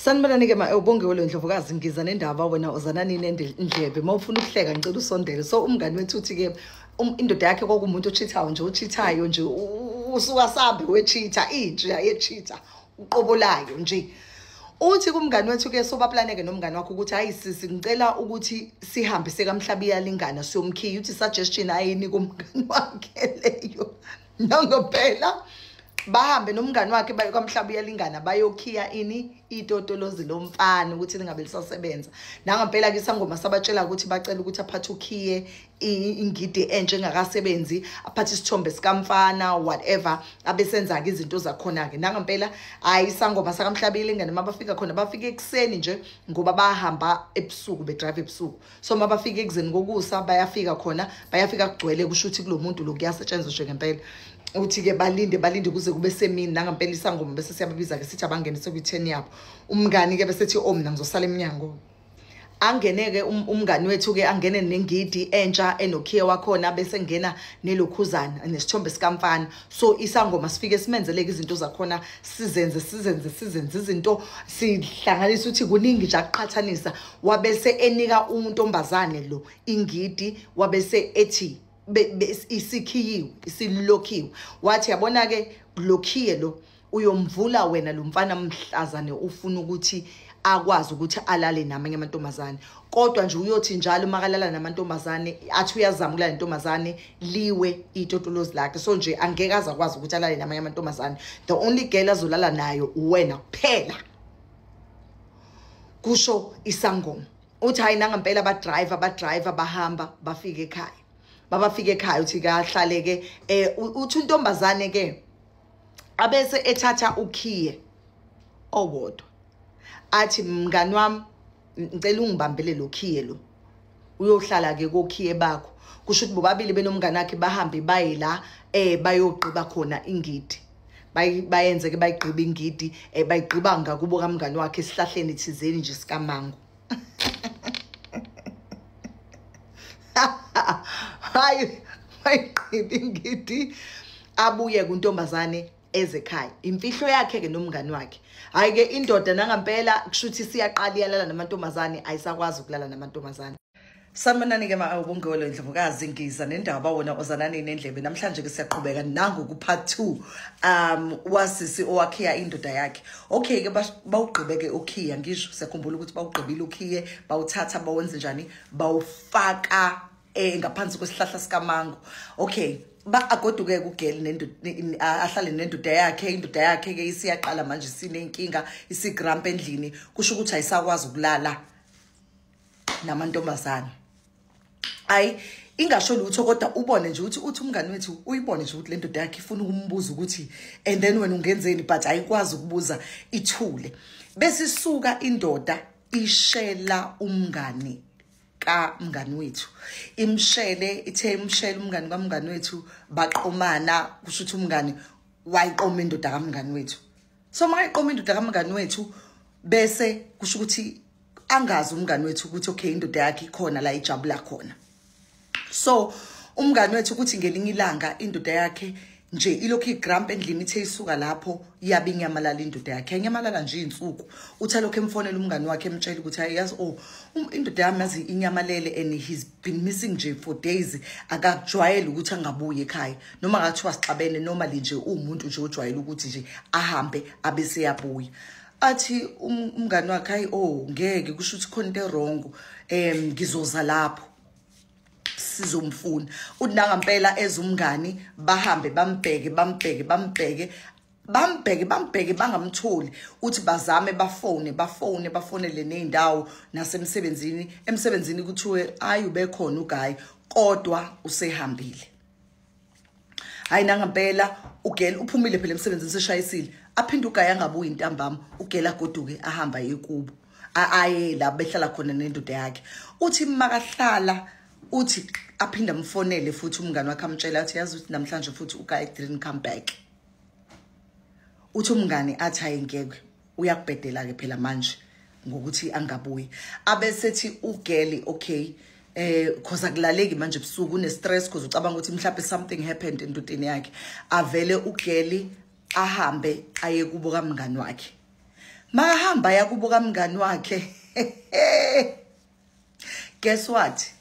sanibananike ma ubongiwe lo ndlovukazi ngiza nendaba wena uzananini endlebe uma ufuna ukuhleka ngicela usondele so umngani wethu uthi-ke um, indoda yakhe kwakumuntu ochithayo nje ochithayo nje usuka sambe wechitha inja yechitha uqobo layo nje uthi kumngani wethu ke sobaplaneke nomngani wakho ukuthi hayi sisi ngicela ukuthi sihambise kamhlabi yalingana siyomkhiya uthi suggestion ayinika umngani wakhe leyo nongo phela bahambe nomngani wakhe baye kwamhlaba uyalingana bayokhiya ini itotolozi lomfana ukuthi lingabe lisasebenza nangampela ke sangoma sabatshela ukuthi bacela ukuthi aphathe ukhiye ingidi entsha engakasebenzi aphathe isithombe sikamfana whatever abesenza-ke izinto zakhona-ke nangampela hhayi isangoma sakamhlabile ingane uma bafika khona bafike ekuseni nje ngoba bahamba ebusuku bedrive ebusuku so uma bafika ekuzeni kokusa bayafika khona bayafika kugcwele kusho ukuthi kulo muntu lo kuyasetshenziswe ngempela uthi-ke balinde balinde kuze kube semini nangempela isangoma bese siyababiza-ke sithi abangene sekwi-ten yabo umngani-ke besethi o oh, mna ngizosala emnyango angene-ke um, umngani wethu-ke angene nengidi entsha enokhiye wakhona bese ngena nelokhuzana nesithombe sikamfana so isangoma sifike simenzeleke izinto zakhona sizenze sizenze sizenze izinto sihlanganisa ukuthi kuningi nje akuqhathanisa wabese enika untombazane lo ingidi wabese ethi isikhiyiwe isilokhiwe wathi yabona ke lokhiye lo uyomvula wena lo mfana mhlazane ufuna ukuthi akwazi ukuthi alale namanye amantombazane kodwa nje uyothi njalo makalala namantombazane athi uyazama ukulala nentombazane liwe itotolozi lakhe so nje angeke aze akwazi ukuthi alale namanye amantombazane the only girl azolala nayo uwena kuphela kusho isangoma uthi hayi nangampela abadrive abadrive abahamba bafike ekhaya babafike ekhaya uthi kahlale-ke um eh, uthi untombazane-ke abese ethatha ukhiye owodwa athi mngani wami ngicela ungibambele lo khiye lo uyohlala ke kokhiye bakho kusho ukuthi bobabili benomngane wakhe bahambe baye la eh bayogqiba khona ingidi bayenze ke bayigqiba ingidi eh bayigqiba ngakubo kamngane wakhe esihlahleni thizeni nje sikamango hayi bayigqiba ingidi abuye kuntombazane ezekhaya imfihlo yakhe ke nomngani wakhe hayi ke indoda nangampela kushuthi siyaqala iyalala namantombazane ayisakwazi ukulala namantombazane Sanibonani ke mawubongolo indlovukazi ngiza nendaba wona ozanani nendlebe namhlanje ke siyaqhubeka nangu ku part 2 um wasisi owakhiya indoda yakhe okay ke bawugqibeke ukhiya ngisho siyakhumbula ukuthi bawugqibile ukhiye bawuthatha bawenze njani bawufaka eh ngaphansi kwesihlahla sikamango okay ba agoduke kugeli nendoda ahlale nendoda yakhe indoda yakhe ke isiyaqala manje sinenkinga isigramp endlini kusho ukuthi ayisakwazi ukulala namantombazane ayi ingasho lutho kodwa ubone nje ukuthi uthi umngani wethu uyibone nje ukuthi lendoda yakhe ifuna ukumbuza ukuthi and then wena ungenzeni but ayikwazi ukubuza ithule besisuka indoda ishela umngani kamngani wethu imshele ithe imshele umngani kamngani wethu baqomana kusho ukuthi umngani wayiqoma indoda kamngani wethu so mayiqoma indoda kamngani wethu bese kusho ukuthi angazi umngani wethu ukuthi okay indoda yakhe ikhona la ijabula khona so umngani wethu ukuthi ngelinye ilanga indoda yakhe nje ilokhu igramp endlini ithe isuka lapho iyabe inyamalala indoda yakhe inyamalala nje iy'nsuku uthi alokhu emfonela umngani wakhe emtshela ukuthi hayi yazi o oh, um, indoda yami yazi inyamalele and he's been missing nje for days akakujwayele ukuthi angabuyi ekhaya noma ngathiwa sixabene normally nje uwumuntu nje ojwayele ukuthi nje ahambe abe seyabuya athi um, umngani wakhe hayi o oh, ngeke kusho ukuthi khona into erongo um ngizoza lapho sizomfuna uthi nangampela ezumngani bahambe bambheke bambheke bambheke bambheke bambheke bangamtholi uthi bazame bafone bafone bafonele nezindawo nasemsebenzini emsebenzini kuthiwe ayi ubekhona uguy kodwa usehambile hayi nangampela ugela uphumile phela emsebenzini seshayisile aphinde ugaya angabuyi intambama ugela agoduke ahamba yekubo aye la behlala khona nendoda yakhe uthi makahlala uthi aphinde amfonele futhi umngane wakhe amtshela athi yazi ukuthi namhlanje futhi uka didn't come back uthi umngane athi ayengeke uyakubhedela ke phela manje ngokuthi angabuyi abesethi ugeli okay eh cause akulaleki manje ebusuku une stress cause ucabanga ukuthi mhlawumbe something happened endodeni yakhe avele ugeli ahambe aye kubo kamngani wakhe mahamba yakubo kamngani wakhe guess what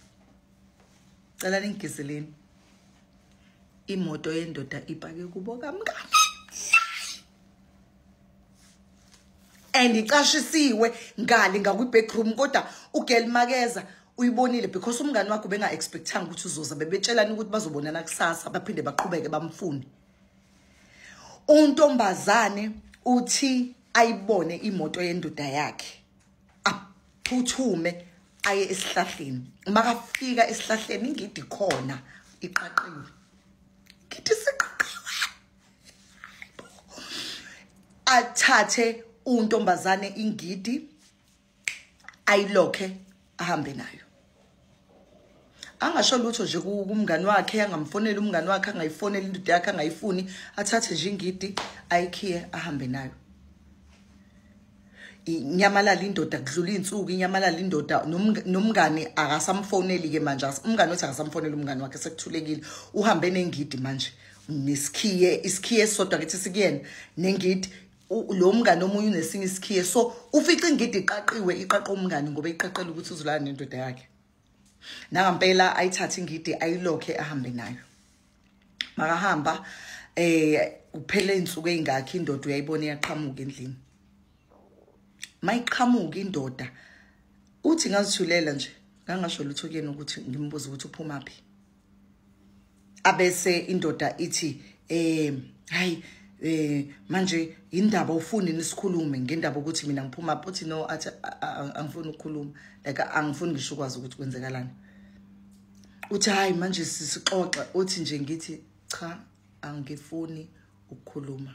cela ningigizeleni imoto yendoda ipake kubo kamngane and icashisiwe ngale ngakwi-backroom kodwa ugel makeza uyibonile because umngane wakho benga-expectanga ukuthi uzoza bebetshelani ukuthi bazobonana kusasa baphinde baqhubeke bamfune untombazane uthi ayibone imoto yendoda yakhe aphuthume aye esihlahleni makafika esihlahleni ingidi khona iqaqiwe ngithi siqaqiwe athathe untombazane ingidi ayilokhe ahambe nayo angasho lutho nje kumngani wakhe angamfoneli umngani wakhe angayifoneli indoda yakhe angayifuni athathe nje ingidi ayikhiye ahambe nayo inyamalala indoda kudlula iy'nsuku inyamalala indoda nomngani akasamfoneli-ke manje umngani othi akasamfoneli umngani wakhe sekuthulekile uhambe nengidi manje nesikhiye isikhiye esisodwa kithi sikuyena nengidi lo mngane omunye unesinye isikhiye so ufica ingidi iqaqiwe iqaqo umngane ngoba iqaqela ukuthi uzolala nendoda yakhe nangampela ayithathe ingidi ayilokhe ahambe nayo makahamba eh kuphele insuku ezingakhi indoda uyayibona iyaqhamuka endlini mayiqhamuka indoda uthi ngazithulela nje ngangasho lutho kuyena ukuthi ngimbuze ukuthi uphuma phi abese indoda ithi eh hayi eh manje indaba ufuni nisikhulume ngendaba ukuthi mina ngiphuma phothi no athi angifuni ukukhuluma like angifuni ngisho kwazi ukuthi kwenzekalani uthi hayi manje sisixoxa uthi nje ngithi cha angifuni ukukhuluma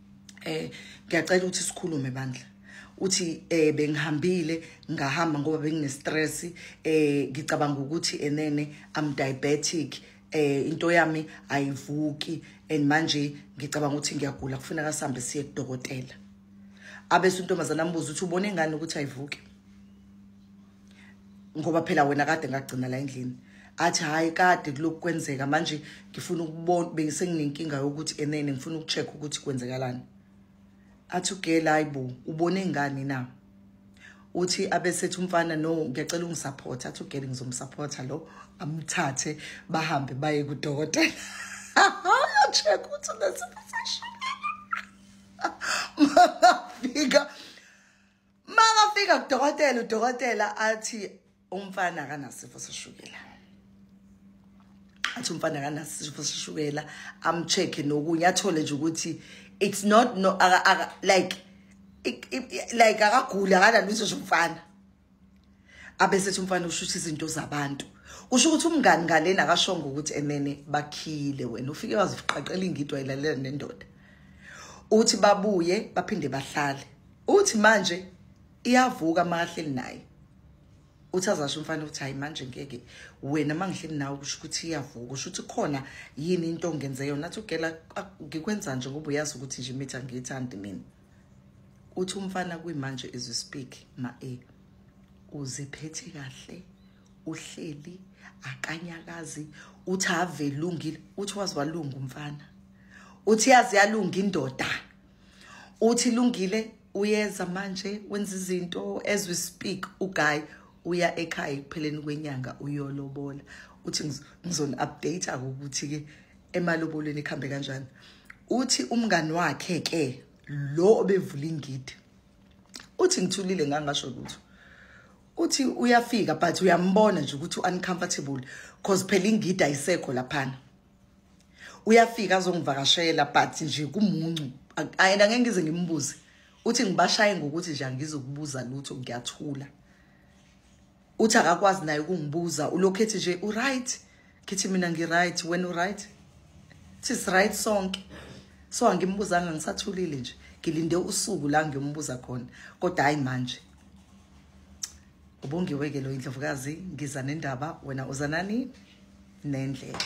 eh ngiyacela ukuthi sikhulume bandla uthi eh bengihambile ngahamba ngoba bengine stress eh ngicabanga ukuthi enene i'm diabetic eh into yami ayivuki and manje ngicabanga ukuthi ngiyagula kufuneka sihambe siye kudokotela abese untombazana ambuza ukuthi ubona ingane ukuthi ayivuki ngoba phela wena kade ngagcina la endlini athi hayi kade kulokhu kwenzeka manje ngifuna ukubona bengisenginenkinga yokuthi enene ngifuna ukucheck ukuthi kwenzekalani athi ugela hayibo ubone ngani na uthi abesethi umfana no ngiyacela ungisupport athi ugela ngizomsupporta lo amthathe bahambe baye kudokotela check ukuthi unesifiso shukela mangafika makafika kudokotela udokotela athi umfana akanasifo seshukela athi umfana akanasifo seshukela amcheck-e nokunye athole nje ukuthi it's not no aka, aka, like like akaguli akanalutho nje umfana abesethi umfana ushutha izinto zabantu kusho ukuthi umngani ngalena akashongo ukuthi enene bakhile wena ufike waziqaqela ingidwa ilalela nendoda uthi babuye baphinde bahlale uthi manje iyavuka mahleli naye uthi azasho umfana ukuthi hayi manje ngeke wena mangihleli nawe kusho ukuthi iyavuka usho ukuthi khona yini into ongenze yona athi ugela ngikwenza nje ngoba uyazi ukuthi nje imithi angiyithandi mina uthi umfana kuyimanje is you speak ma e uziphethe kahle uhleli akanyakazi uthi avelungile uthi wazi walunga umfana uthi yazi yalunga indoda uthi lungile uyeza manje wenza izinto as we speak uguy uya ekhaya ekupheleni kwenyanga uyolobola uthi ngizoni update ukuthi ke emalobolweni ikhambe kanjani uthi umngani wakhe ke lo obevula ingidi uthi ngithulile ngangasho ukuthi uthi uyafika but uyambona nje ukuthi uncomfortable because phela ingidi ayisekho laphana uyafika azongivakashela but nje kumuncu and angeke ngize ngimbuze uthi ngibashaye ngokuthi nje angizokubuza lutho ngiyathula uthi akakwazi naye ukungibuza ulokhethi nje uright kithi mina ngiright wena uright sis right sonke so angimbuzanga ngisathulile nje ngilinde usuku la ngiyombuza khona kodwa hayi manje ubongiwe ke lo indlovukazi ngiza nendaba wena uzanani nendlela